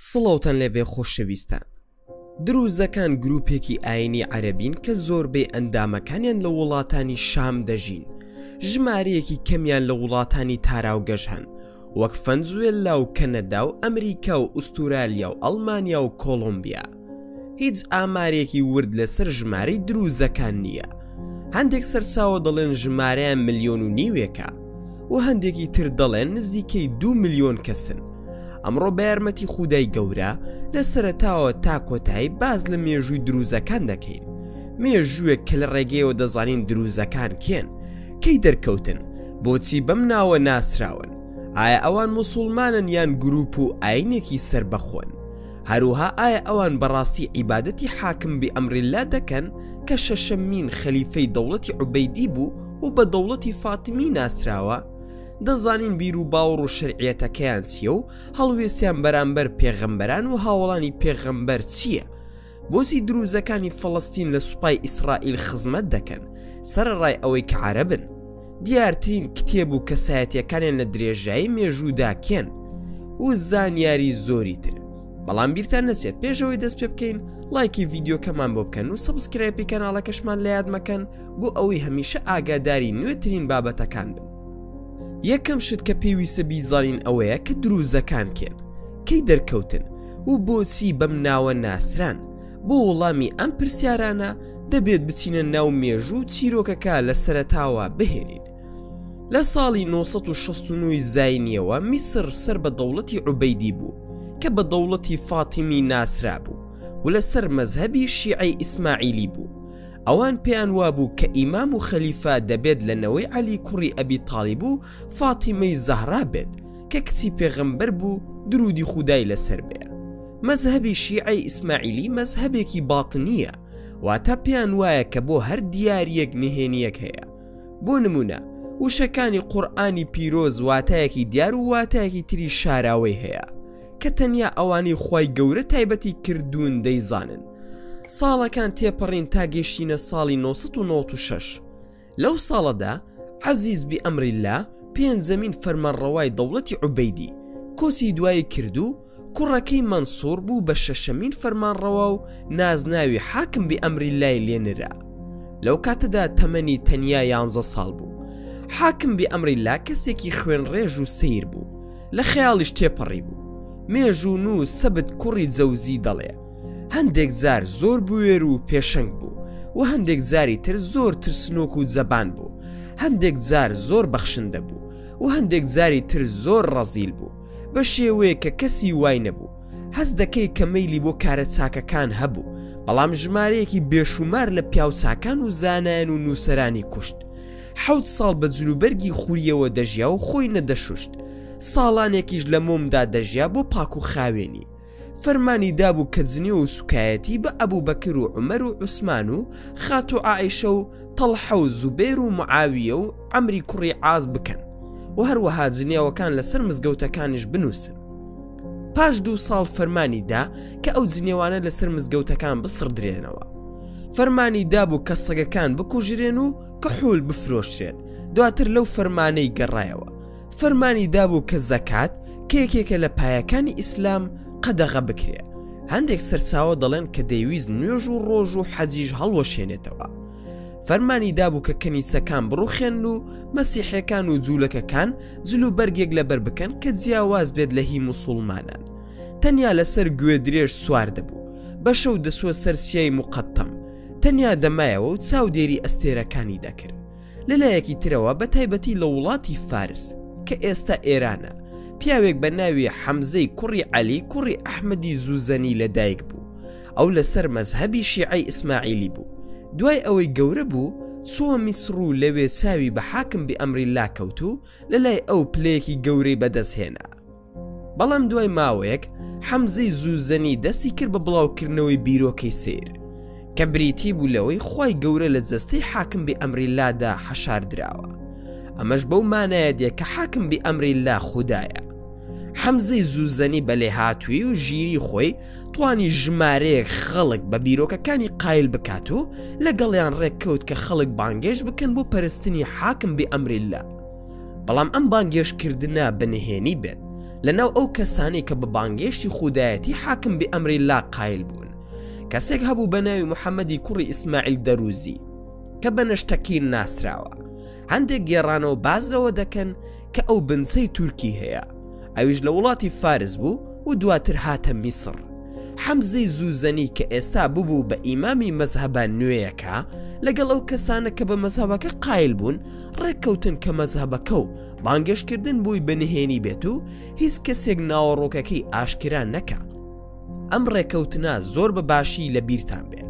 سڵاوتان لێبێ خۆشەویستان دروزەکان گروپێکی ئاینی عەربین کە زۆربەی ئەندامەکانیان لە وڵاتانی شام دەژین ژمارەیەکی کەمیان لە وڵاتانی تاراوگەش هەن وەک فەنزوێللا و کەنەدا و ئەمریکا و ئوستورالیا و ئەلمانیا و کۆلمبیا هیچ ئامارێکی ورد لەسەر ژمارەی دروزەکان نییە هەندێک سەرساوە دەڵێن ژمارەیان ملیۆن و نیوێکە و هەندێکی تر دەڵێن نزیکەی دو ملیۆن کەسن ئەمڕۆ بە یارمەتی خودای گەورە لە سەرتاوە تا کۆتایی باز لە مێژووی دروزەکان دەکەین مێژووێک کە لە ڕێگەیەوە دەزانین دروزەکان کێن کەی دەرکەوتن بۆچی بەم ناوە ناسراون ئایا ئەوان مسلمانن یان گروپ و ئاینێکی سربەخۆن هەروها ئایا ئەوان بەڕاستی عیبادەتی حاکم بی ئەمرلا دەکەن کە شەشەمین خەلیفەی دەوڵەتی عوبەیدی بوو و بە دەوڵەتی فاتمی ناسراوە؟ دەزانین بیر و باوەڕ و شەرعیەتەکەیان چییە و هەڵوێستیان بەرامبەر پێغەمبەران و هاوڵانی پێغەمبەر چییە؟ بۆچی دروزەکانی فەڵەستین لە سوپای ئیسرائیل خزمەت دەکەن سەرەڕای ئەوەی کە عەرەبن؟ دیارترین کتێب و کەسایەتیەکانیان لە درێژایی مێژوودا کێن و زانیاری زۆری تر بەڵام بیرتان نەچێت پێشەوەی دەست پێ بکەین لایکی ڤیددیوکەمان بۆ بکەن و سبسکرایپی کەناڵەکەشمان لە یادمەکەن بۆ ئەوەی هەمیشە ئاگاداری نوێترین بابەتەکان بن یەکەم شت کە پێویستە بیزانین ئەوەیە کە دروزەکان کێن کەی دەرکەوتن و بۆچی بەم ناوە ناسران بۆ وڵامی ئەم پرسیارانە دەبێت بچینە ناو مێژوو چیرۆکەکە لە سەرتاوە بهێنین لە ساڵی 1969 زینیەوە میسر سەر بە دەوڵەتی عوبەیدی بوو کە بە دەوڵەتی فاتیمی ناسرا بوو و لەسەر مەزهبی شیعی ئیسماعیلی بوو ئەوان پێیان وابوو کە ئیمام و خەلیفە دەبێت لە نەوەی عەلی کوڕی ئەبی تاالب و فاتیمەی زەهرا بێت کە کچی پێغەمبەر بوو درودی خودای لەسەر بێ مەزهبی شیعی ئیسماعیلی مەزهبێکی باتنیە واتە پێیان وایە کە بۆ هەر دیارەک نهێنیەک هەیە بۆ نمونە وشەکانی قورآانی پیرۆز واتایەکی دیار و واتایەکی تری شاراوەی هەیە کە تەنیا ئەوانەی خی گەورە تایبەتی کردوون دەیزانن ساڵەکان تێپەڕین تا گەشتینە ساڵی 1996 لەو ساڵەدا عەزیز بی ئەمرلا پێنجەمین فەرمانڕەوای دەوڵەتی عوبەیدی کۆچی دوایی کرد و کوڕەکەی مەنسوور بوو بە شەشەمین فەرمانڕەوا و نازناوی حاکم بی ئەمرلای لێنرا لەو کاتەدا تەمەنی تەنیا یانزە ساڵ بوو حاکم بی ئەمرلا کەسێکی خوێن ڕێژ و سیر بوو لە خەیاڵیش تێپەڕی بوو مێژوون و سەبت کوڕی جەوزی دەڵێ هەندێک جار زۆر بوێر و پێشنگ بوو و هەندێک جاری تر زۆر ترسنۆک و زەبان بوو هەندێک جار زۆر بەخشندە بوو و هەندێک جاری تر زۆر ڕەزیل بوو بە شێوەیە کە کەسی وای نەبوو هەز دەکەی کە مەلی بۆ کارە چاکەکان هەبوو بەڵام ژمارەیەکی بێشومار لە پیاوچکان و زانایان و نووسرانی کوشت حەوت ساڵ بە جلوبەرگی خوریەوە دەژیا و خۆی نەدەشوشت ساڵانێکیش لە مۆمدا دەژیا بۆ پاک و خاوێنی فەرمانی دابوو کە جنێو و سوکایەتی بە ئەبوبەکر و عومەر و عوسمان و خاتوو عائیشە و تەڵحە و زوبێر و معاویە و عەمری کوڕی عاز بکەن و هەروەها جنێوەکان لەسەر مزگەوتەکانیش بنووسن پاش دوو ساڵ فەرمانی دا کە ئەو جنێوانە لەسەر مزگەوتەکان بسڕدرێنەوە فەرمانی دابوو کە سەگەکان بکوژرێن و کە حول بفرۆشرێت دواتر لەو فەرمانەی گەڕایەوە فەرمانی دابوو کە زەکات کە یەکێکە لە پایەکانی ئیسلام قەدەغە بکرێ هەندێک سەرچاوە دەڵێن کە دەیویست نوێژ و ڕۆژ و حەجیش هەڵوەشێنێتەوە فەرمانی دابوو کە کەنیسەکان بڕوخێن و مەسیحەکان و جوولەکەکان جل و بەرگێک لەبەر بکەن کە جیاواز بێت لە هی مسلمانان تەنیا لەسەر گوێ درێژ سوار دەبوو بە شەو دەسوە سەر سیای مقەتەم تەنیا دەمایەوە و چاودێری ئەستێرەکانی دەکرد لەلایەکی ترەوە بە تایبەتی لە وڵاتی فارس کە ئێستا ئێرانە پیاوێک بە ناوی حەمزەی کوڕی عەلی کوڕی ئەحمەدی زوزەنی لەدایک بوو ئەو لەسەر مەزهبی شیعی ئیسماعیلی بوو دوای ئەوەی گەورە بوو سووە میسڕ و لەوێ چاوی بە حاکم بی ئەمری لا کەوت و لە لای ئەو پلەیەکی گەورەی بەدەستهێنا بەڵام دوای ماوەیەک حەمزەی زووزەنی دەستی کرد بە بڵاوکردنەوەی بیرۆکەی سیر کە بریتی بوو لەوەی خی گەورە لە جەستەی حاکم بێ ئەمری لادا حەشار دراوە ئەمەش بەو مانایە دێ کە حاکم بی ئەمری لا خوددایە حەمزەی زووزەنی بەلێ هاتووی و ژیری خۆی توانی ژمارەیەک خەڵک بە بیرۆکەکانی قایل بکات و لەگەڵیان ڕێککەوت کە خەڵک بانگێش بکەن بۆ پەرستنی حاکم بێ ئەمریلا بەڵام ئەم بانگێشتکردە بە نهێنی بێت لەناو ئەو کەسانی کە بە بانگێشتی خودایەتی حاکم بێ ئەمری لا قایل بوون کەسێک هەبوو بە ناوی محەممەدی کوڕی ئیسماعیل دەروزی کە بە نەشتەکین ناسراوە هەندێک گێڕانەوە باز لەوە دەکەن کە ئەو بنچەی تورکی هەیە ئەویش لە وڵاتی فارس بوو و دواتر هاتە میسڕ حەمزەی زوزەنی کە ئێستا ببوو بە ئیمامی مەزهبە نوێیەکە لەگەڵ ئەو کەسانە کە بە مەزهبەکە قایل بوون ڕێککەوتن کە مەزهبەکە و بانگەشتکردن بووی بەنهێنی بێت و هیچ کەسێک ناوەڕۆکەکەی ئاشکرا نەکە ئەم ڕێکەوتنە زۆر بە باشی لە بیرتان بێت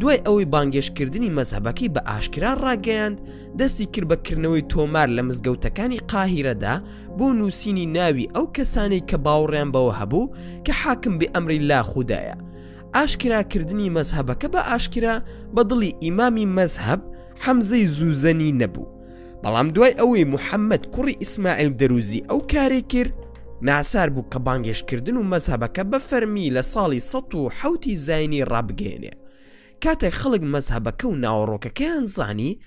دوای ئەوەی بانگێشتکردنی مەزهەبەکەی بە ئاشکرا ڕاگەیاند دەستی کرد بە کردنەوەی تۆمار لە مزگەوتەکانی قاهیرەدا بۆ نووسینی ناوی ئەو کەسانەی کە باوەڕیان بەوە هەبوو کە حاکم بێ ئەمری لا خوددایە ئاشکراکردنی مەزهەبەکە بە ئاشکرا بە دڵی ئیمامی مەزهەب حەمزەی زوزەنی نەبوو بەڵام دوای ئەوەی محەممەد کوڕی ئیسماعیل دەروزی ئەو کارێک کرد ناسار بوو کە بانگێشتکردن و مەزهبەکە بە فەرمی لە ساڵی 1970 زینی ڕابگەێنێ کاتێک خەڵک مەزهبەکە و ناوەڕۆکەکەیان زانی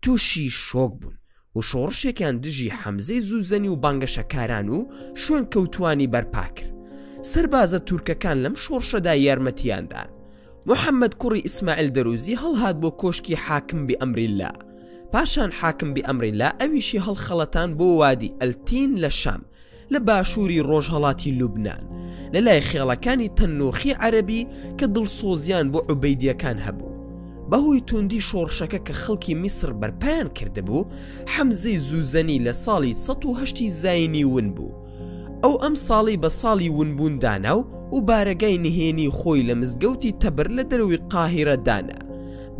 تووشی شۆک بوون و شۆڕشێکیان دژی حەمزەی زوزەنی و بانگەشەکاران و شوێن کەوتانی بەرپاکرد سەربازە تورکەکان لەم شۆڕشەدا یارمەتیاندان محەمەد کوڕی ئیسماعیل دەروزی هەڵهات بۆ کۆشکی حاکم بیئەمریللا، پاشان حاکم بیئەمریللا ئەویشی هەڵخەڵەتان بۆ وادی ئەلتین لە شام، لە باشووری ڕۆژهەڵاتی لوبنان، لە لای خێڵەکانی تەننوخی عەرەبی کە دڵسۆزییان بۆ عوبەیدییەکان هەبوو. بە هۆی تووندی شۆڕشەکە کە خەڵکی میسڕ بەرپایان کردبوو، حەمزەی زووزەنی لە ساڵی سەد و هەشتی زایینی ون بوو، ئەو ئەم ساڵی بە ساڵی ونبوون دانا و و بارەگای نهێنی خۆی لە مزگەوتی تەبر لە دەروی قاهیرە دانا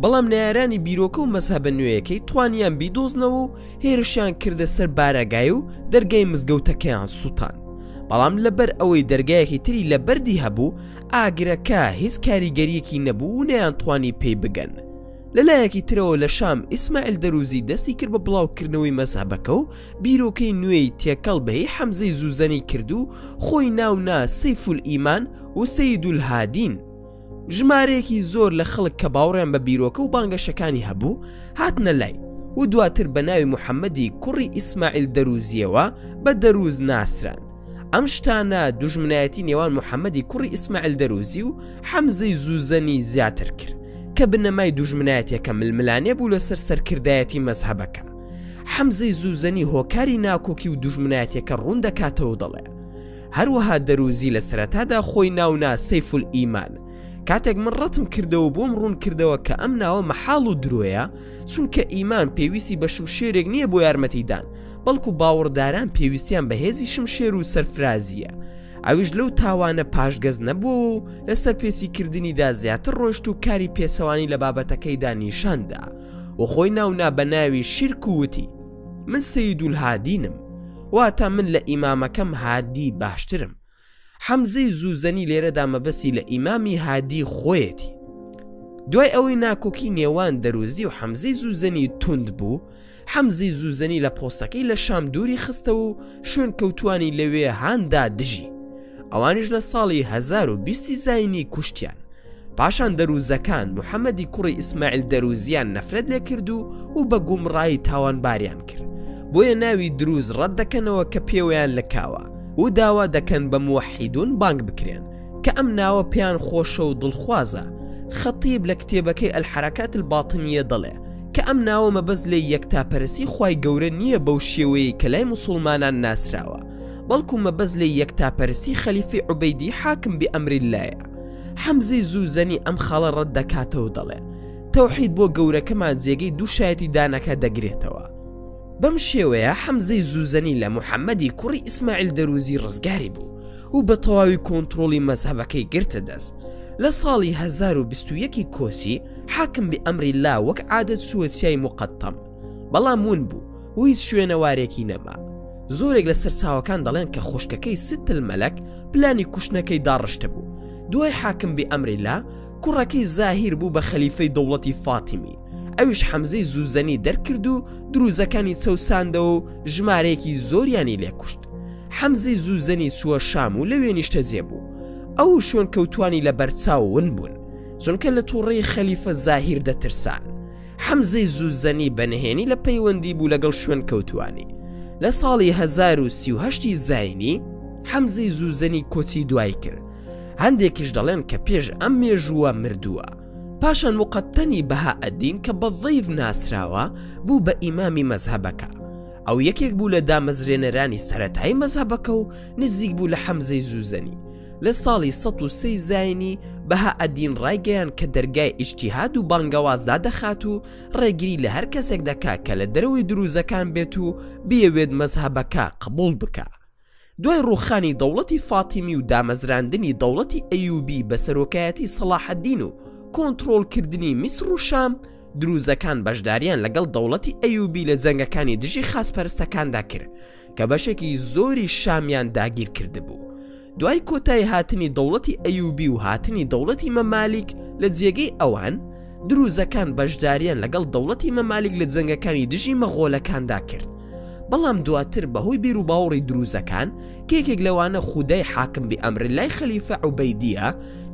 بەڵام نارانی بیرۆکە و مەسهبە نوێیەکەی توانیان بیدۆزنەوە و هێرشیان کردە سەر بارەگای و دەرگای مزگەوتەکەیان سووتان بەڵام لەبەر ئەوەی دەرگایەکی تری لە بەردی هەبوو ئاگرەکە هیچ کاریگەریەکی نەبوو و نیان توانی پێی بگەن لە لایەکی ترەوە لە شام ئیسماعیل دەروزی دەستی کرد بە بڵاوکردنەوەی مەزهبەکە و بیرۆکەی نوێی تێکەڵ بەهی حەمزەی زوزەنی کرد و خۆی ناونا سەیفول ئیمان و سیدول هادین ژمارەیەکی زۆر لە خەڵک کە باوڕیان بە بیرۆکە و بانگەشەکانی هەبوو هاتنە لای و دواتر بە ناوی محەممەدی کوڕی ئیسماعیل دەروزیەوە بە دەروز ناسران ئەم شتانە دوژمنایەتی نێوان محەممەدی کوڕی ئیسماعیل دەروزی و حەمزەی زوزەنی زیاتر کرد کە بنەمای دوژمنایەتەکە ململانێ بوو لەسەر سەرکردایەتی مەزهبەکە حەمزەی زوزەنی هۆکاری ناکۆکی و دوژمنایەتەکە ڕوون دەکاتەوە دەڵێ هەروەها دەروزی لە سەرەتادا خۆی ناونا سەیفل ئیمان کاتێک من ڕەتم کردەوە بۆم ڕوون کردەوە کە ئەم ناوە مەحاڵ و درۆیە چونکە ئیمان پێویستی بە شمشێرێک نییە بۆ یارمەتیدان بەڵکو باوەڕداران پێویستیان بە هێزی شمشێر و سەرفرازیە ئەویش لەو تاوانە پاشگەز نەبوو و لەسەر پێسی کردنیدا زیاتر ڕۆشت و کاری پێسەوانی لە بابەتەکەیدا نیشاندا و خۆی ناونا بە ناوی شیرک وتی من سیدول هادینم واتە من لە ئیمامەکەم هادی باشترم حەمزەی زوزەنی لێرەدا مەبەستی لە ئیمامی هادی خۆیەتی دوای ئەوەی ناکۆکی نێوان دەروزی و حەمزەی زوزەنی توند بوو حەمزەی زوزەنی لە پۆستەکەی لە شام دووری خستە و شوێن کەوتانی لەوێ هاندا دژی ئەوانش لە ساڵی 1920 زینی کوشتیان پاشان دەرووزەکان محەمەدی کوڕی ئیسماعیل دەرووزیان نەفرەت لێ کرد و و بە گومڕایی تاوانباریان کرد بۆیە ناوی دروز ڕەت دەکەنەوە کە پێوەیان لە کاوە و داوا دەکەن بە موحیدون بانگ بکرێن کە ئەم ناوە پێیان خۆشە و دڵخوازە خەتیب لە کتێبەکەی ئەلحرەکات الباطنیە دەڵێ کە ئەم ناوە مەبەست لێ یەکتاپەرسی خی گەورە نییە بەو شێوەیە کە لای مسلمانان ناسراوە بەڵکو مەبەست لێ یەکتاپەرسی خەلیفی عوبەیدی حاکم بێ ئەمری لایە حەمزەی زوزەنی ئەم خاڵە ڕەت دەکاتەوە دەڵێ تەوحید بۆ گەورەکەمان جێگەی دوو شایەتی دانەکە دەگرێتەوە بەم شێوەیە حەمزەی زوزەنی لە محەممەدی کوڕی ئیسماعیل دەروزی ڕزگاری بوو و بە تەواوی کۆنتترۆڵی مەزهبەکەی گرتە دەست لە ساڵی 1920 کۆسی حاکم بە ئەمری لا وەک عادەت سوەسیای مقەتەم بەڵام ون بوو و هیچ شوێنەوارێکی نەما زۆرێک لە سەرچاوەکان دەڵێن کە خوشکەکەی ستل مەلەک پلانی کوشتنەکەی داڕشتە بوو دوای حاکم بێ ئەمریلا کوڕەکەی زاهیر بوو بە خەلیفەی دەوڵەتی فاتیمی ئەویش حەمزەی زوزەنی دەرکرد و دروزەکانی چەوساندەوە و ژمارەیەکی زۆریانی لێکوشت حەمزەی زوزەنی چووە شام و لەوێ نیشتەجێ بوو ئەو شوێن کەوتانی لە بەرچاوون بوون چونکە لە تووڕی خەلیفە زاهیر دەترسان حەمزەی زوزەنی بە نهێنی لە پەیوەندی بوو لەگەڵ شوێنکەوتووانی. لە ساڵی هەزار و سی و هەشتی زاینی، حەمزەی زوزەنی کۆچی دوایی کرد. هەندێکیش دەڵێن کە پێش ئەم مێژووە مردووە. پاشان موقتەنی بەهائەدین کە بە ضیف ناسراوە، بوو بە ئیمامی مەزهەبەکە. ئەو یەکێک بوو لە دامەزرێنەرانی سەرەتایی مەزهەبەکە و نزیک بوو لە حەمزەی زوزەنی. لە ساڵی سەد و سێی زاینی، بەهائەدین ڕایگەیاند کە دەرگای ئیجتیهاد و بانگەواز دادەخات و ڕێگری لە هەر کەسێک دەکا کە لە دەرەوەی درووزەکان بێت و بیەوێت مەزهەبەکە قبووڵ بکا. دوای ڕووخانی دەوڵەتی فاتیمی و دامەزراندنی دەوڵەتی ئەیووبی بە سەرۆکایەتی سەڵاحەدین و کۆنتڕۆڵکردنی میسڕ و شام، درووزەکان بەشدارییان لەگەڵ دەوڵەتی ئەیووبی لە جەنگەکانی دژی خاچپەرستەکاندا کرد، کە بەشێکی زۆری شامیان داگیر کردبوو. دوای کۆتای هاتنی دەوڵەتی ئەیوبی و هاتنی دەوڵەتی مەمالیک لە جێگەی ئەوان، دروزەکان بەشداریان لەگەڵ دەوڵەتی مەمالیک لە جەنگەکانی دژی مەغۆلەکاندا کرد. بەڵام دواتر بەهۆی بیروباوەڕی دروزەکان کە یەکێک لەوانە خودای حاکم بئەمرللای خەلیفە عوبەیدیە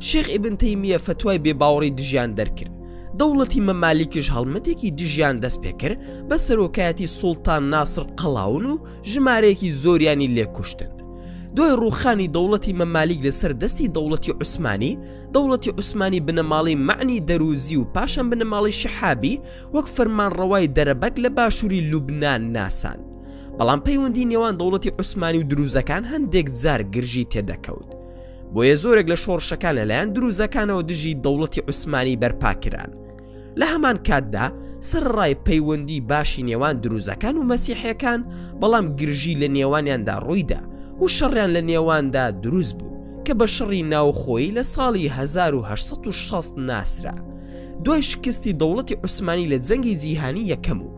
شێخ ئیبن تەیمیە فەتوای بێباوەڕی دژیان دەرکرد، دەوڵەتی مەمالیکیش هەڵمەتێکی دژیان دەست پێکرد بە سەرۆکایەتی سوڵتان ناسر قەڵاون و ژمارەیەکی زۆریانی لێکوشتن دوای ڕوخانی دەوڵەتی مەمالیک لەسەر دەستی دەوڵەتی عوسمانی دەوڵەتی عوسمانی بنەماڵی معنی دەروزی و پاشان بنەماڵی شەحابی وەک فەرمان ڕەوای دەرەبەگ لە باشووری لوبناان ناسان بەڵام پەیوەندی نێوان دەوڵەتی عوسمانی و دروزەکان هەندێک زار گرژی تێدەکەوت بۆیە زۆرێک لە شۆڕشەکان لەلایەن دروزەکانەوە دژی دەوڵەتی عوسمانی بەرپاکران لە هەمان کاتدا سەرڕای پەیوەندی باشی نێوان دروزەکان و مەسیحەکان بەڵام گرژی لە نێوانیاندا ڕوویدا و شەڕیان لە نێواندا دروست بوو کە بە شەڕی ناوخۆی لە ساڵی 1960 ناسرا دوای شکستی دەوڵەتی عوسمانی لە جەنگی جیهانی یەکەم و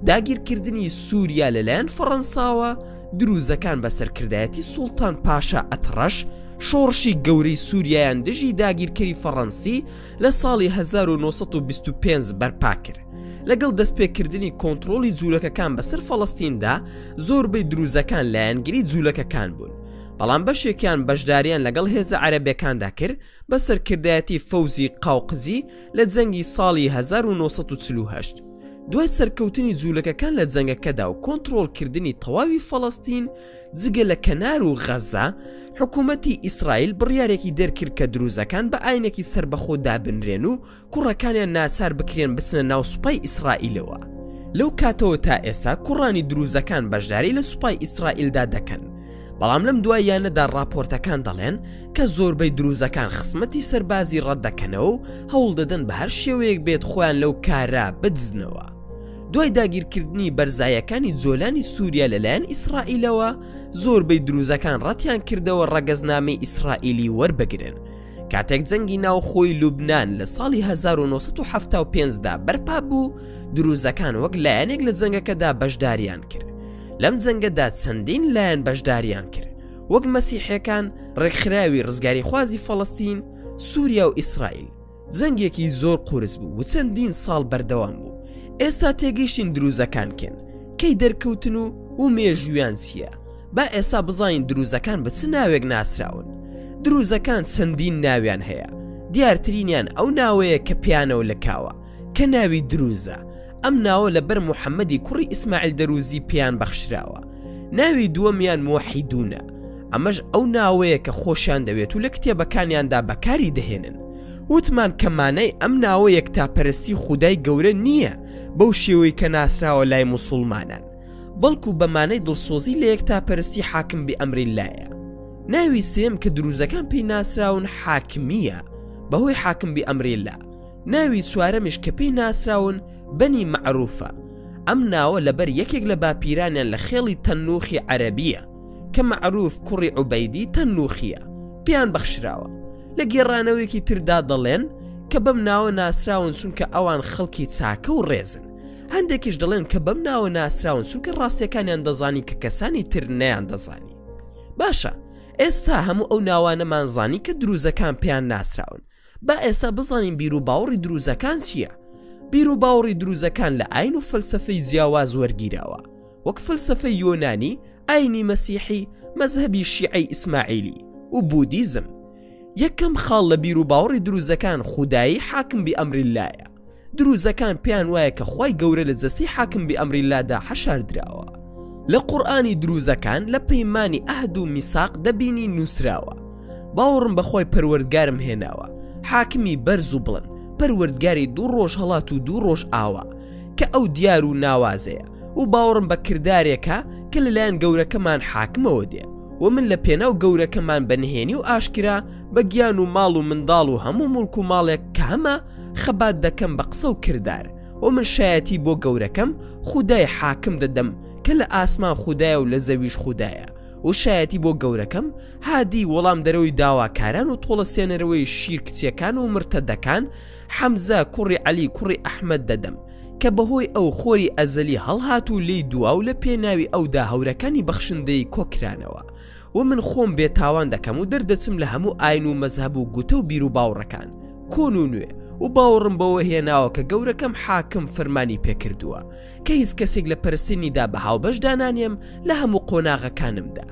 داگیرکردنی سووریا لەلایەن فەڕەنساوە دروزەکان بە سەرکردایەتی سوڵتان پاشا ئەتڕەش شۆڕشی گەورەی سووریایان دژی داگیرکەری فەڕەنسی لە ساڵی 1925 بەرپا کرد لەگەڵ دەستپێکردنی کۆنتترۆلی جوولەکەکان بەسەر فەڵستیندا زۆربەی دروزەکان لایەنگری جوولەکەکان بوون بەڵام بەشێکیان بەشداریان لەگەڵ هێزە عەرەبەکاندا کرد بە سەرکردایەتی فەوزی قاوقزی لە جەنگی ساڵی 1948 دوای سەرکەوتنی جوولەکەکان لە جەنگەکەدا و کۆنتترۆلکردنی تەواوی فەڵستین جگە لە کەنار و غەزە حکوومەتی ئیسرائیل بڕیارێکی دەرکرد کە دروزەکان بە ئاینێکی سربەخۆ دابنرێن و کوڕەکانیان ناچار بکرێن بچنە ناو سوپای ئیسرائیلەوە لەو کاتەوە تا ئێستا کوڕانی دروزەکان بەشداری لە سوپای ئیسرائیلدا دەکەن بەڵام لەم دواییانەدا ڕاپۆرتەکان دەڵێن کە زۆربەی دروزەکان خسمەتی سەربازی ڕەتدەکەنەوە و هەوڵ دەدەن بە هەر شێوەیەک بێت خۆیان لەو کارە بدزنەوە. دوای داگیرکردنی بەرزایەکانی جۆلانی سووریا لەلایەن ئیسرائیلەوە زۆربەی دروزەکان ڕەتیان کردەوە ڕەگەزنامەی ئیسرائیلی وەربگرن کاتێک جەنگی ناوخۆی لوبناان لە ساڵی 1970دا بەرپا بوو دروزەکان وەک لایەنێک لە جەنگەکەدا بەشداریان کرد لەم جەنگەدا چەندین لایەن بەشداریان کرد وەک مەسیحەکان ڕێکخراوی ڕزگاری خوازی فەڵستین سووریا و ئیسرائیل جەنگێکی زۆر قورس بوو و چەندین ساڵ بەردەوام بوو ئێستا تێگەیشتین دروزەکان کێن کەی دەرکەوتن و و مێژویان چییە با ئێستا بزانین دروزەکان بە چ ناوێک ناسراون دروزەکان چەندین ناویان هەیە دیارترینیان ئەو ناوەیە کە پیانەوە لە کاوە کە ناوی دروزە ئەم ناوە لە بەر محەممەدی کوڕی ئیسماعیل دەروزی پێیان بەخشراوە ناوی دووەمیان مۆحیدونە ئەمەش ئەو ناوەیە کە خۆشیان دەوێت و لە کتێبەکانیاندا بەکاری دەهێنن وتمان کە مانای ئەم ناوە یەکتاپەرستی خودای گەورە نییە بەو شێوەی کە ناسراوە لای مسلمانان بەڵکو بەمانەی دڵسۆزی لە یەکتاپەرستی حاکم بی ئەمری لایە ناوی سێم کە دروزەکان پێی ناسراون حاکمیە بەهۆی حاکم بی ئەمری لا ناوی چوارەمیش کە پێی ناسراون بەنی مەعروفە، ئەم ناوە لەبەر یەکێک لە باپیرانیان لە خێڵی تەنوخی عەرەبییە کە مەعروف کوڕی عوبەیدی تەنوخییە پێیان بەخشراوە، لە گێڕانەوەیەکی تردا دەڵێن کە بەم ناوە ناسراون چونکە ئەوان خەڵکی چاکە و ڕێزن، هەندێکیش دەڵێن کە بەم ناوە ناسراون چونکە ڕاستیەکانیان دەزانی کە کەسانی تر نەیان دەزانی باشە ئێستا هەموو ئەو ناوانەمان زانی کە دروزەکان پێیان ناسراون با ئێستا بزانین بیر و باوەڕی دروزەکان چییە؟ بیر و باوەڕی دروزەکان لە ئاین و فەلسفەی جیاواز وەرگیراوە وەک فەلسفەی یۆنانی ئاینی مەسیحی مەزهبی شیعی ئیسماعیلی و بودیزم یەکەم خاڵ لە بیر و باوەڕی دروزەکان خودایی حاکم بی ئەمری لایە دروزەکان پێیان وایە کە خی گەورە لە جەستی حاکم بی ئەمری لادا حەشاردراوە لە قورآانی دروزەکان لە پەیمانانی ئەهد و میساق دەبینی نووسراوە باوەڕم بەخۆی پەروەردگارم هێناوە حاکمی بەرز و بڵند پەروەردگاری دوو ڕۆژ هەڵات و دوو ڕۆژ ئاوا کە ئەو دیار و ناوازەیە و باوەڕم بە کردارێکە کە لەلایەن گەورەکەمان حاکمەوە دێ و من لە پێناو گەورەکەمان بە نهێنی و ئاشکرا بە گیان و ماڵ و منداڵ و هەموو مڵک و ماڵێک کامە خەبات دەکەم بە قسە و کردار وە من شایەتی بۆ گەورەکەم خودای حاکم دەدەم کە لە ئاسمان خودایە و لە زەویش خودایە و شایەتی بۆ گەورەکەم هادی وەڵام دەرەوەی داواکاران و تۆڵە سێنەرەوەی شیر کچیەکان و مرتەدەکان حەمزە کوڕی عەلی کوڕی ئەحمەد دەدەم کە بەهۆی ئەو خۆری ئەزەلی هەڵهات و لێی دوا و لە پێناوی ئەودا هەورەکانی بەخشندەی کۆکرانەوە و من خۆم بێ تاوان دەکەم و دەردەچم لە هەموو ئاین و مەزهەب و گوتە و بیرو باوڕەکان کۆن و نوێ و باوڕم بەوە هێناوە کە گەورەکەم حاکم فەرمانی پێکردووە کە هیچ کەسێک لە پەرستنیدا بە هاوبەش دانانێم لە هەموو قۆناغەکانمدا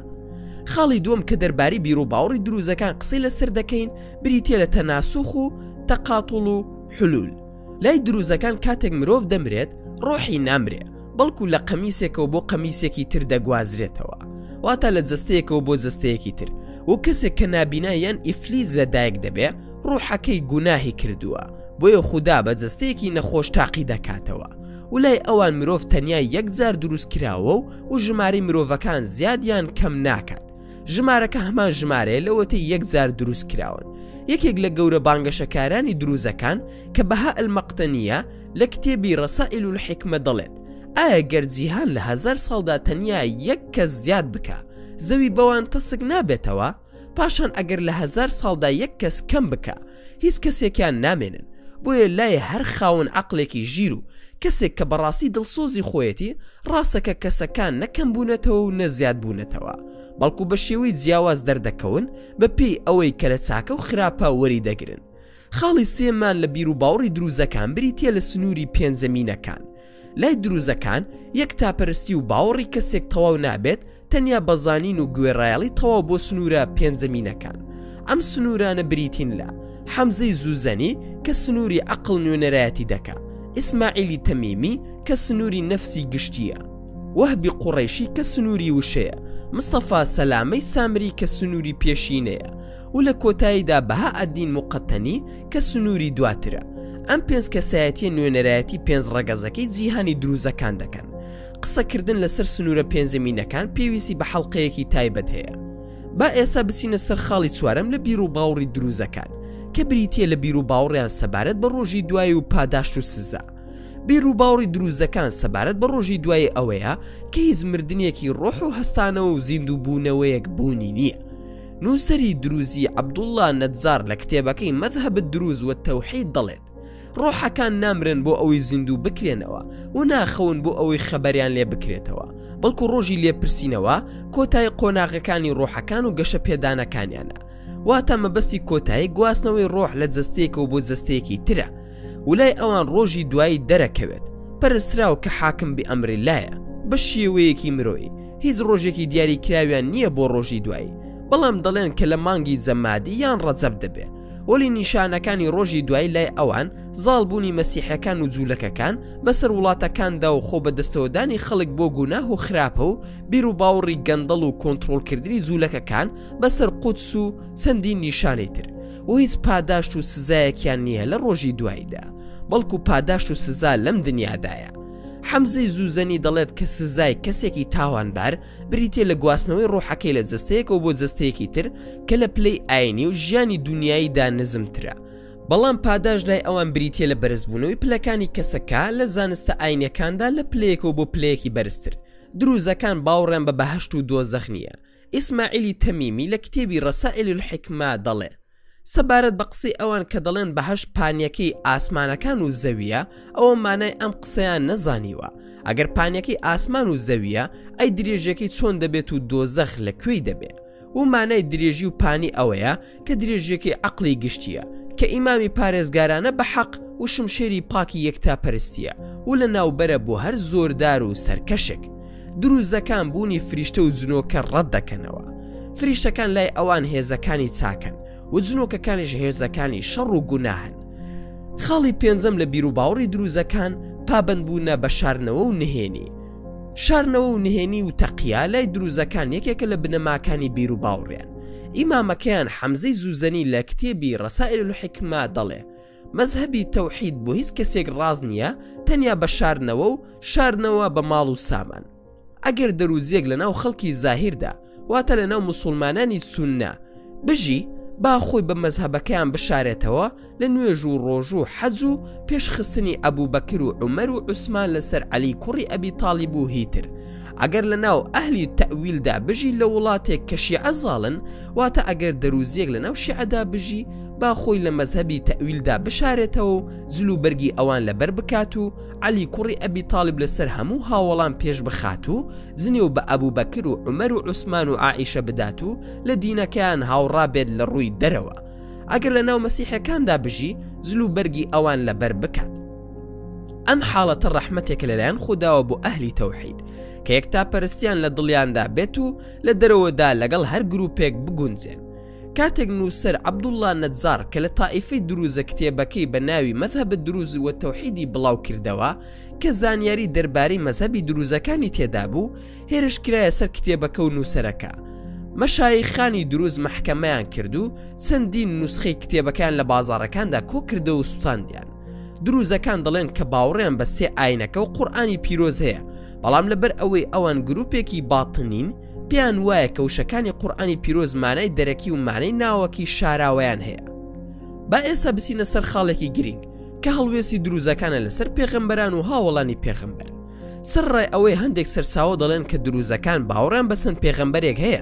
خاڵی دووەم کە دەرباری بیرو باوڕی دروزەکان قسەی لەسەر دەکەین بریتە لە تەناسوخ و تەقاتڵ و حلول لای دروزەکان کاتێک مرۆڤ دەمرێت ڕۆحی نامرێ بەڵکو لە قەمیسێکەوە بۆ قەمیسێکی تر دەگوازرێتەوە واتە لە جستەیەکەوە بۆ جستەیەکی تر و کەسێک کە نابینا یان ئیفلیز لە دایک دەبێ ڕوحەکەی گوناهی کردووە بۆیە خوددا بە جستەیەکی نەخۆش تاقی دەکاتەوە ولای ئەوان مرۆڤ تەنیا یەکجار دروست کراوە و و ژماری مرۆڤەکان زیادیان کەم ناکات ژمارەکە هەمان ژمارەیە لەوەتەی یەک جار دروست کراون یەکێک لە گەورە بانگەشەکارانی دروزەکان کە بەها ئەلمەقتەنیە لە کتێبی ڕەسائل و حکمە دەڵێت ئایا گەر جیهان لە هزار ساڵدا تەنیا یەک کەس زیاد بکە زەوی بەوان تەسک نابێتەوە پاشان ئەگەر لە هزار ساڵدا یەک کەس کەم بکە هیچ کەسێکیان نامێنن، بۆیە لای هەر خاوەن عەقڵێکی ژیر و کەسێک کە بەڕاستی دڵسۆزی خۆیەتی ڕاستە کە کەسەکان نە کەم بوونەتەوە و نە زیاد بوونەتەوە بەڵکو بە شێوەی جیاواز دەردەکەون بە پێی ئەوەی کە لە چاکە و خراپە وەری دەگرن خاڵی سێمان لە بیروباوڕی دروزەکان بریتیە لە سنووری پێنجەمینەکان لای دروزەکان یەکتاپەرستی و باوەڕی کەسێک تەواو نابێت تەنیا بە زانین و گوێڕایەڵی تەواو بۆ سنوورە پێنجەمینەکان ئەم سنوورانە بریتین لە حەمزەی زوزەنی کە سنووری عقل نوێنەرایەتی دەکا ئیسماعیلی تەمیمی کە سنووری نەفسی گشتیە وەهبی قوڕیشی کە سنووری وشەیە مستەفا سەلامەی سامری کە سنووری پێشینەیە و لە کۆتاییدا بەها ئەدین مقەتەنی کە سنووری دواترە ئەم پێنج کەسایەتیە نوێنەرایەتی پێنج ڕەگەزەکەی جیهانی دروزەکان دەکەن قسەکردن لەسەر سنوورە پێنجەمینەکان پێویستی بە حەڵلقەیەکی تایبەت هەیە با ئێستا بچینە سەر خاڵی چوارم لە بیر و باوڕی دروزەکان کە بریتە لە بیر و باوڕیان سەبارەت بە ڕۆژی دوایی و پاداشت و سزا بیر و باوڕی دروزەکان سەبارەت بە ڕۆژی دوایی ئەوەیە کە هیچ مردنیەکی ڕۆح و هەستانەوە و زیندوو بوونەوەیەک بوونی نییە نووسەری دروزی عەبدوڵڵا نەجار لە کتێبەکەی مەزهەب الدروز والتوحید دەڵێت، ڕۆحەکان نامرن بۆ ئەوەی زیندوو بکرێنەوە و ناخەون بۆ ئەوەی خەبەریان لێ بکرێتەوە، بەڵکو ڕۆژی لێپرسینەوە کۆتایی قۆناغەکانی ڕۆحەکان و گەشەپێدانەکانیانە، واتە مەبەستی کۆتایی گواستنەوەی ڕۆح لە جەستەیەکەوە بۆ جەستەیەکی ترە. ولای ئەوان ڕۆژی دوایی دەرەکەوێت پەرستراو کە حاکم بی ئەمرللایە بە شێوەیەکی مرۆیی هیچ ڕۆژێکی دیاری کراویان نییە بۆ ڕۆژی دوایی بەڵام دەڵێن کە لە مانگی جەمادی یان ڕەجەب دەبێ وەلی نیشانەکانی ڕۆژی دوایی لای ئەوان زاڵ بوونی مەسیحەکان و جوولەکەکان بەسەر وڵاتەکاندا و خۆ بەدەستەوەدانی خەڵک بۆ گوناه و خراپە و بیر و باوڕی گەندەڵ و کۆنترۆڵکردنی جوولەکەکان بەسەر قودس و چەندین نیشانەی تر بۆ هیچ پاداشت و سزایەکیان نییە لە ڕۆژی دواییدا بەڵکو پاداشت و سزا لەم دنیادایە حەمزەی زوزەنی دەڵێت کە سزای کەسێکی تاوانبار بریتە لە گواستنەوەی ڕۆحەکەی لە جستەیەکەوە بۆ جستەیەکی تر کە لە پلەی ئاینی و ژیانی دنیاییدا نزمترە بەڵام پاداش لای ئەوان بریتە لە بەرزبوونەوەی پلەکانی کەسەکە لە زانستە ئاینەکاندا لە پلەیەکەوە بۆ پلەیەکی بەرزتر دروزەکان باوڕێن بە بەهشت و دۆزەخ نییە ئیسماعیلی تەمیمی لە کتێبی رسائل الحکمە دەڵێ، سەبارەت بە قسەی ئەوان کە دەڵێن بەهەشت پانیەکەی ئاسمانەکان و زەوییە ئەوە مانای ئەم قسەیان نەزانیوە، ئەگەر پانیەکەی ئاسمان و زەوییە ئەی درێژیەکەی چۆن دەبێت و دۆزەخ لە کوێی دەبێ؟ ومانای درێژی و پانی ئەوەیە کە درێژیەکەی عەقڵی گشتیە، کە ئیمامی پارێزگارانە بە حەق و شمشێری پاکی یەکتا پەرستیە و لە ناوبەرە بۆ هەر زۆردار و سەرکەشێک. دروزەکان بوونی فریشتە و جنۆکە ڕەت دەکەنەوە. فریشتەکان لای ئەوان هێزەکانی چاکن و جنۆکەکانیش هێزەکانی شەڕ و گوناهن. خاڵی پێنجەم لە بیروباوەڕی دروزەکان پابەندبوونە بە شاردنەوە و نهێنی. شارنەوە و نهێنی و تەقییا لای دروزەکان یەکێکە لە بنەماکانی بیر و باوڕیان ئیمامەکەیان حەمزەی زوزەنی لە کتێبی ڕسائل و حکمە دەڵێ مەذهبی تەوحید بۆ هیچ کەسێک ڕاز نییە تەنیا بە شارنەوە و شارنەوە بە ماڵ و سامان ئەگەر دەروزیەک لە ناو خەڵکی زاهیردا واتە لەناو موسوڵمانانی سوننە بژی با خۆی بە مەزهەبەکەیان بشارێتەوە لە نوێژ و ڕۆژ و حەج و پێشخستنی ئەبوو بەکر و عمەر و عوسمان لەسەر عەلی کوڕی ئەبی تاالب و هیتر ئەگەر لە ناو ئەهلی تەویلدا بژی لە وڵاتێک کە شیعە زاڵن واتە ئەگەر دەروزیەک لە ناو شیعەدا بژی با خۆی لە مەزهبی تەویلدا بشارێتەوە و زل و بەرگی ئەوان لەبەر بکات و عەلی کوڕی ئەبی تالیب لەسەر هەموو هاوەڵان پێش بخات و زنی و بە ئەبوو بەکر و عمەر و عوسمان و ئائیشە بدات و لە دینەکەیان هاوڕابێت لە ڕووی دەرەوە ئەگەر لە ناو مەسیحەکاندا بژی زل و بەرگی ئەوان لەبەر بکات ئەم حاڵەتە ڕەحمەتێک لەلایەن خودداوە بۆ ئەهلی تەوحید کە یەک تا پەرستیان لە دڵیاندا بێت و لە دەرەوەدا لەگەڵ هەر گروپێک بگونجێن کاتێک نووسەر عەبدوڵڵا نەجاڕ کە لە تائیفەی درووزە کتێبەکەی بە ناوی مەزهەب الدروز والتوحیدی بڵاو کردەوە کە زانیاری دەربارەی مەزهەبی درووزەکانی تێدا بوو هێرش کرایە سەر کتێبەکە و نووسەرەکە مەشایخانی درووز مەحکەمەیان کرد و چەندین نوسخەی کتێبەکان لە بازاڕەکاندا کۆ کردەوە و سوتاندیان درووزەکان دەڵێن کە باوڕیان بە سێ ئاینەکە و قورآانی پیرۆز هەیە بەڵام لەبەر ئەوەی ئەوان گروپێکی باتنین پێیان وایە کە وشەکانی قورآانی پیرۆز مانای دەرەکی و مانەی ناوەکی شاراوەیان هەیە با ئێستا بچینە سەر خاڵێکی گرنگ کە هەڵوێستی دروزەکانە لەسەر پێغەمبەران و هاوڵانی پێغەمبەر سەر ڕای ئەوەی هەندێک سەرساوە دەڵێن کە دروزەکان باوەڕیان بەسەند پێغەمبەرێک هەیە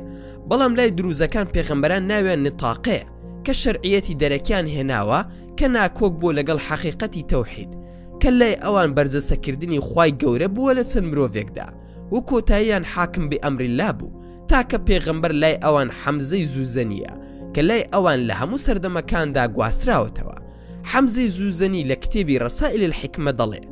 بەڵام لای دروزەکان پێغەمبەران ناویان نتاقەیە کە شەرعیەتی دەرەکیان هێناوە کە ناکۆک بووە لەگەڵ حەقیقەتی تەوحید کە لای ئەوان بەرجەستەکردنی خی گەورە بووە لە چەند مرۆڤێکدا و کۆتاییان حاکم بئەمراللە بوو تاکە پێغەمبەر لای ئەوان حەمزەی زوزەنییە کە لای ئەوان لە هەموو سەردەمەکاندا گواستراوەتەوە حەمزەی زوزەنی لە کتێبی رسائل الحکمە دەڵێ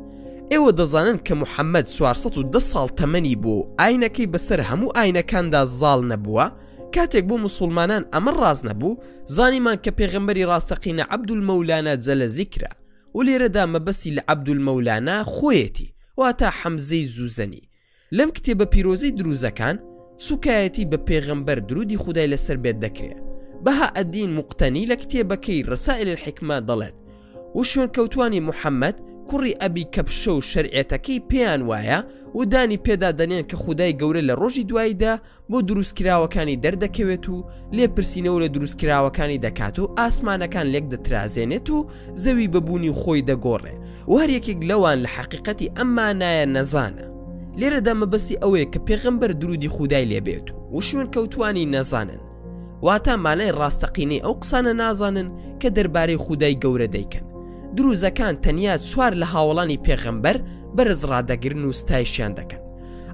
ئێوە دەزانن کە محەمەد چوار سەد و دە ساڵ تەمەنی بووە و ئاینەکەی بەسەر هەموو ئاینەکاندا زاڵ نەبووە کاتێک بۆ موسوڵمانان ئەمە ڕاست نەبوو زانیمان کە پێغەمبەری ڕاستەقینە عەبدولمەولانا جەلە زیکرە و لێرەدا مەبەستی لە عەبدولمەولانا خۆیەتی واتە حەمزەی زوزەنی لەم کتێبە پیرۆزەی دروزەکان سوکایەتی بە پێغەمبەر درودی خودای لەسەر بێت دەکرێ بەها ئەدین مقتەنی لە کتێبەکەی ڕسائل الحکمە دەڵێت و شوێنکەوتوانی محەممەد کوڕی ئەبی کەپشە و شەرعێتەکەی پێیان وایە و دانی پێدا دەنێن کە خودای گەورە لە ڕۆژی دواییدا بۆ دروستکراوەکانی دەردەکەوێت و لێپرسینەوە لە دروستکراوەکانی دەکات و ئاسمانەکان لێک دەترازێنێت و زەوی بەبوونی خۆی دەگۆڕێ و هەر یەکێک لەوان لە حەقیقەتی ئەم مانایە نەزانە لێرەدا مەبەستی ئەوەیە کە پێغەمبەر درودی خودای لێبێت و وشوێن کەوتانی نەزانن واتا مانای ڕاستەقینەی ئەو قسانە نازانن کە دەربارەی خودای گەورە دەیکەن دروزەکان تەنیا چوار لە هاوڵانی پێغەمبەر بەرز ڕدەگرن و ستایشیان دەکەن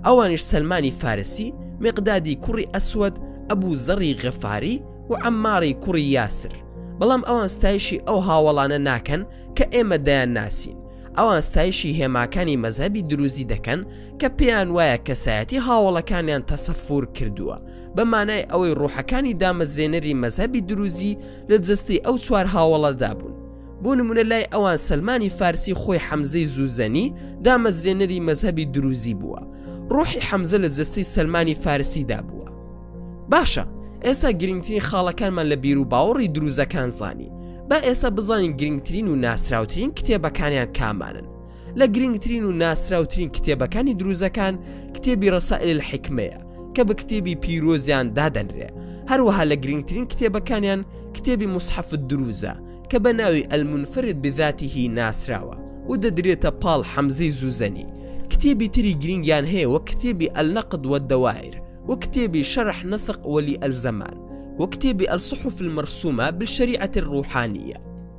ئەوانش سەلمانی فارسی مقدادی کوڕی ئەسود ئەبوو زەڕی غەفاری و ئەمماری کوڕی یاسر بەڵام ئەوان ستایشی ئەو هاوڵانە ناکەن کە ئێمە دەیان ناسین ئەوان ستایشی هێماکانی مەذهبی دروزی دەکەن کە پێیان وایە کەسایەتی هاوڵەکانیان تەسەفور کردووە بە مانای ئەوەی ڕوحەکانی دامەزرێنەری مەذهبی دروزی لە جستی ئەو چوار هاوڵەدا بوون بۆ نمونە لای ئەوان سەلمانی فارسی خۆی حەمزەی زوزەنی دامەزرێنەری مەزهبی دروزی بووە ڕۆحی حەمزە لە جەستەی سەلمانی فارسیدا بووە باشە ئێستا گرنگترین خاڵەکانمان لە بیر و باوەڕی دروزەکان زانی با ئێستا بزانین گرنگترین و ناسراوترین کتێبەکانیان کامانن لە گرنگترین و ناسراوترین کتێبەکانی دروزەکان کتێبی ڕسائل حکمەیە کە بە کتێبی پیرۆزیان دادەنرێ هەروەها لە گرنگترین کتێبەکانیان کتێبی مسحف دروزە کە بە ناوی المنفرد بذاته ناسراوە و دەدرێتە پاڵ حەمزەی زوزەنی، کتێبی تری گرنگیان هەیە وەک کتێبی النقد والدوائر و کتێبی شرح نطق ولی الزمان و کتێبی الصحف المرسومە بالشریعە الروحانیە.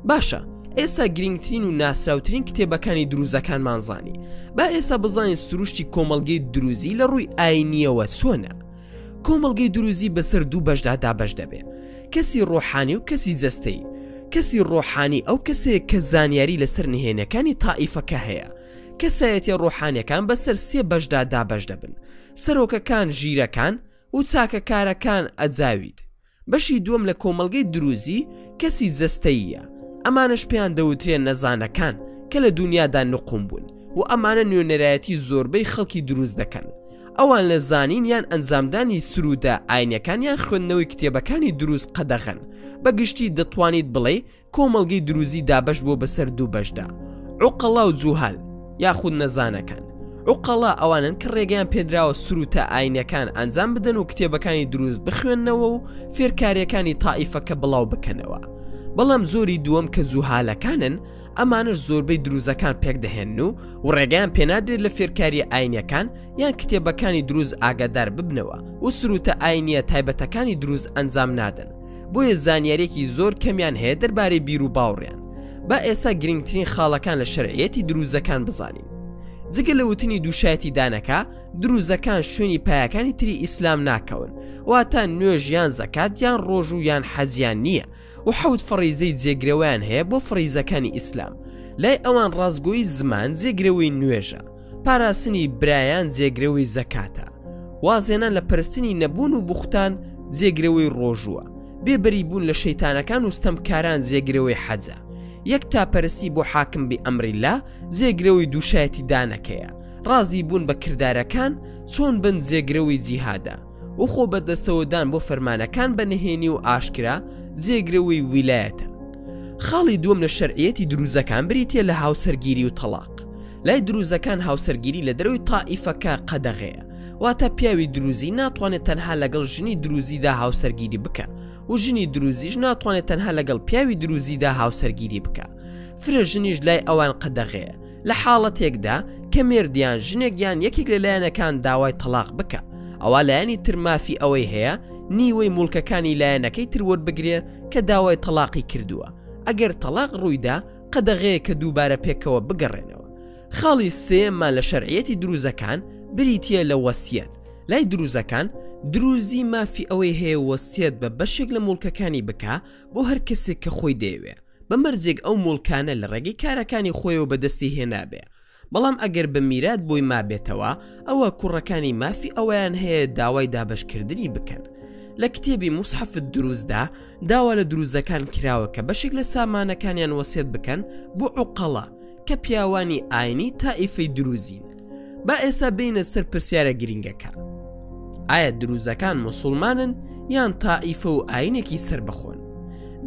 باشە ئێستا گرنگترین و ناسراوترین کتێبەکانی دروزەکانمان زانی، با ئێستا بزانین سروشتی کۆمەڵگەی دروزی لە ڕووی ئاینیەوە چۆنە؟ کۆمەڵگەی دروزی بەسەر دوو بەشدا دابەش دەبێ کەسی ڕۆحانی و کەسی جەستەی کەسی ڕۆحانی ئەو کەسەیە کە زانیاری لەسەر نهێنەکانی تائیفەکە هەیە کەسایەتە ڕۆحانەکان بەسەر سێ بەشدا دابەش دەبن سەرۆکەکان ژیرەکان و چاکەکارەکان ئەجاوید بەشی دووەم لە کۆمەڵگەی دروزی کەسی جەستەییە، ئەمانەش پێیان دەوترێ نەزانەکان کە لە دونیادا نقوم بوون و ئەمانە نوێنەرایەتی زۆربەی خەڵکی دروز دەکەن. ئەوان لە زانین یان ئەنجامدانی سروودە ئاینیەکان یان خوێندنەوەی کتێبەکانی دروز قەدەغەن. بە گشتی دەتوانیت بڵێی کۆمەڵگەی دروزی دابەش بووە بەسەر دوو بەشدا عوقەڵا و جوهال یاخود نەزانەکان عوقەڵا ئەوانن کە ڕێگەیان پێدراوە سروتە ئاینەکان ئەنجام بدەن و کتێبەکانی دروست بخوێندنەوە و فێرکاریەکانی تائیفەکە بڵاو بکەنەوە بەڵام زۆری دووەم کە جوهالەکانن ئەمانش زۆربەی دروزەکان پێک دەهێن و و ڕێگەیان پێنادرێت لە فێرکاری ئاینەکان یان کتێبەکانی دروز ئاگادار ببنەوە و سروتە ئاینیە تایبەتەکانی دروز ئەنجام نادەن بۆیە زانیارێکی زۆر کەمیان هەیە دەربارەی بیر و باوڕیان با ئێستا گرنگترین خاڵەکان لە شەرعەتی دروزەکان بزانین جگە لە وتنی دووشایەتی دانەکە دروزەکان شوێنی پایەکانی تری ئیسلام ناکەون واتە نوێژ یان زەکات یان ڕۆژ و یان حەزیان نییە و حەوت فەڕیزەی جێگرەوەیان هەیە بۆ فڕیزەکانی ئیسلام لای ئەوان ڕاستگۆی زمان جێگرەوەی نوێژە پاراستنی برایان جێگرەوەی زەکاتە وازێنان لە پرستنی نەبوون و بوختان جێگرەوەی ڕۆژووە بێبەری بوون لە شەیتانەکان و ستەمکاران جێگرەوەی حەجە یەک تاپەرستی بۆ حاکم بی ئەمریلا جێگرەوەی دووشایەتی دانەکەیە ڕازی بوون بە کردارەکان چۆن بن جێگرەوەی جیهادە و خۆ بەدەستەوەدان بۆ فەرمانەکان بە نهێنی و ئاشکرا جێگرەوەی ویلایەتە خاڵی دووەم لە شەرعەتی دروزەکان بریتە لە هاوسەرگیری و تەلاق لای دروزەکان هاوسەرگیری لە دەروی تائیفەکە قەدەغەیە واتە پیاوی دروزی ناتوانێت تەنها لەگەڵ ژنی دروزیدا هاوسەرگیری بکە و ژنی دروزیش ناتوانێت تەنها لەگەڵ پیاوی دروزیدا هاوسەرگیری بکە فرە ژنیش لای ئەوان قەدەغەیە لە حاڵەتێکدا کە مێردیان ژنێک یان یەکێک لە لایەنەکان داوای تەلاق بکە ئەوە لایەنی تر مافی ئەوەی هەیە نیوەی مڵکەکانی لایەنەکەی تر وەربگرێ کە داوای تەلاقی کردووە ئەگەر تەلاق ڕوویدا قەدەغەیە کە دووبارە پێکەوە بگەڕێنەوە خاڵی سێمان لە شەرعەتی دروزەکان بریتە لە وەسیەت لای دروزەکان دروزی مافی ئەوەی هەیە وەسیەت بە بەشێک لە مڵکەکانی بکە بۆ هەر کەسێک کە خۆی دەیەوێ بە مەرجێک ئەو موڵکانە لە ڕێگەی کارەکانی خۆیەوە بەدەستی هێنابێ بەڵام ئەگەر بە میرات بۆی مابێتەوە ئەوە کوڕەکانی مافی ئەویان هەیە داوای دابشکردنی بکەن لە کتێبی مسحفت دروستدا داوا لە دروزەکان کراوە کە بەشێک لە سامانەکانیان وەسێت بکەن بۆ عقەڵە کە پیاوانی ئاینی تائیفی دروزین با ئێسا بینە سەر پرسیارە گرنگەکە ئایا دروزەکان مسلمانن یان تائیفە و ئاینێکی سربەخۆن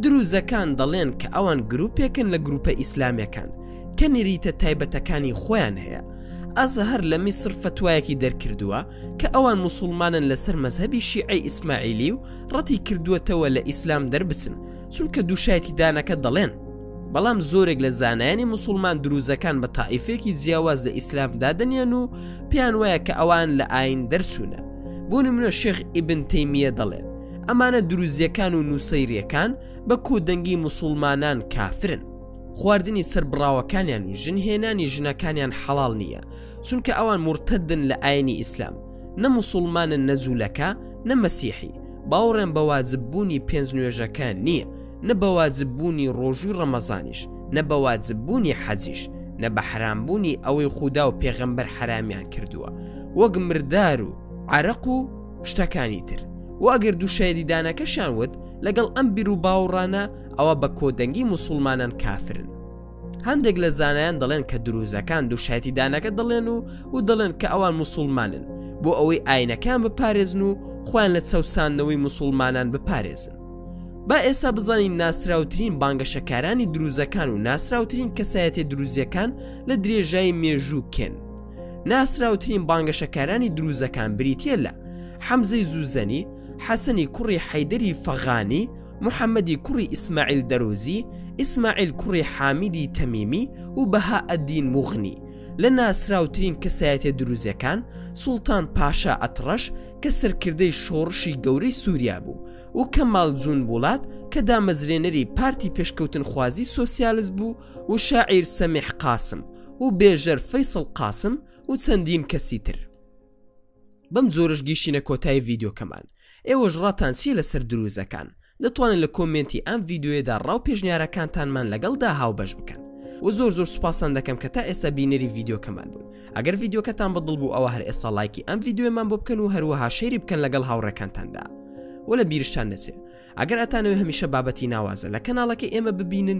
دروزەکان دەڵێن کە ئەوان گرروپێکن لە گروپە ئیسلامەکان کە نریتە تایبەتەکانی خۆیان هەیە ئازە هەر لە میسر فتوایەکی دەرکردووە کە ئەوان مسلمانن لەسەر مەذهبی شیعی ئیسماعیلی و ڕەتی کردووەتەوە لە ئیسلام دەربچن چونکە دووشایەتی دانەکە دەڵێن بەڵام زۆرێک لە زانایانی مسلمان دروزەکان بە تائیفێکی جیاواز لە ئیسلام دادنیان و پێیان وایە کە ئەوان لە ئاین دەرچوونە بۆ نمونە شێخ ئیبن تەیمیە دەڵێت ئەمانە دروزیەکان و نووسەیرەکان بە کۆدەنگی مسلمانان کافرن خواردنی سربڕاوەکانیان و ژن هێنانی ژنەکانیان حەڵال نییە چونکە ئەوان مرتدن لە ئاینی ئیسلام نە مسلمانن نەجوولەکە نە مەسیحی باوەڕێن بە واجببوونی پێنج نوێژەکە نییە نە بە واجب بوونی ڕۆژووی ڕەمەزانیش نە بە واجب بوونی حەجیش نە بە حرام بوونی ئەوەی خودا و پێغەمبەر حرامیان کردووە وەک مردار و عرق و شتەکانی تر و ئەگەر دوو شایدیدانەکەشیان وت لەگەڵ ئەم بیر و باوڕانە ئەوە بە کۆدەنگی مسلمانان کافرن هەندێک لە زانایان دەڵێن کە دروزەکان دوو شایدیدانەکە دەڵێن و و دەڵێن کە ئەوان مسلمانن بۆ ئەوەی ئاینەکان بپارێزن و خۆیان لە چەوساندنەوەی مسلمانان بپارێزن با ئێستا بزانین ناسراوترین بانگەشەکارانی دروزەکان و ناسراوترین کەسایەتی دروزیەکان لە درێژایی مێژوو کێن ناسراوترین بانگەشەکارانی دروزەکان بریتە لە حەمزەی زوزەنی حەسەنی کوڕی حەیدەری فەغانی محەممەدی کوڕی ئیسماعیل دەرۆزی ئیسماعیل کوڕی حامیدی تەمیمی و بەها ئەدین مغنی لە ناسراوترین کەسایەتە دروزەکان سوڵتان پاشا ئەتڕەش کە سەرکردەی شۆڕشی گەورەی سوریا بوو، و کەمال جون بوڵات کە دامەزرێنەری پارتی پێشکەوتنخوازی سۆسیالست بوو، و شاعیر سەمیح قاسم، و بێژەر فەیسەڵ قاسم، و چەندین کەسی تر. بەم جۆرەش گیشتینە کۆتایی ڤیدیۆکەمان. ئێوەش ڕاتان چییە لەسەر درووزەکان؟ دەتوانن لە کۆمێنتی ئەم ڤیدیۆیەدا ڕا و پێشنیارەکانتانمان لەگەڵدا هاوبەش بکەن وە زۆر زۆر سوپاستان دەکەم کە تا ئێستا بینەری ڤیدیۆکەمان بوون ئەگەر ڤیدیۆکەتان بەدڵ بوو ئەوە هەر ئێستا لایکی ئەم ڤیدیۆمان بۆ بکەن و هەروەها شەیری بکەن لەگەڵ هاوڕێکانتاندا وە لە بیرشتان نەچێ ئەگەر ئەتانەوێ هەمیشە بابەتی ناوازە لە کەناڵەکەی ئێمە ببینن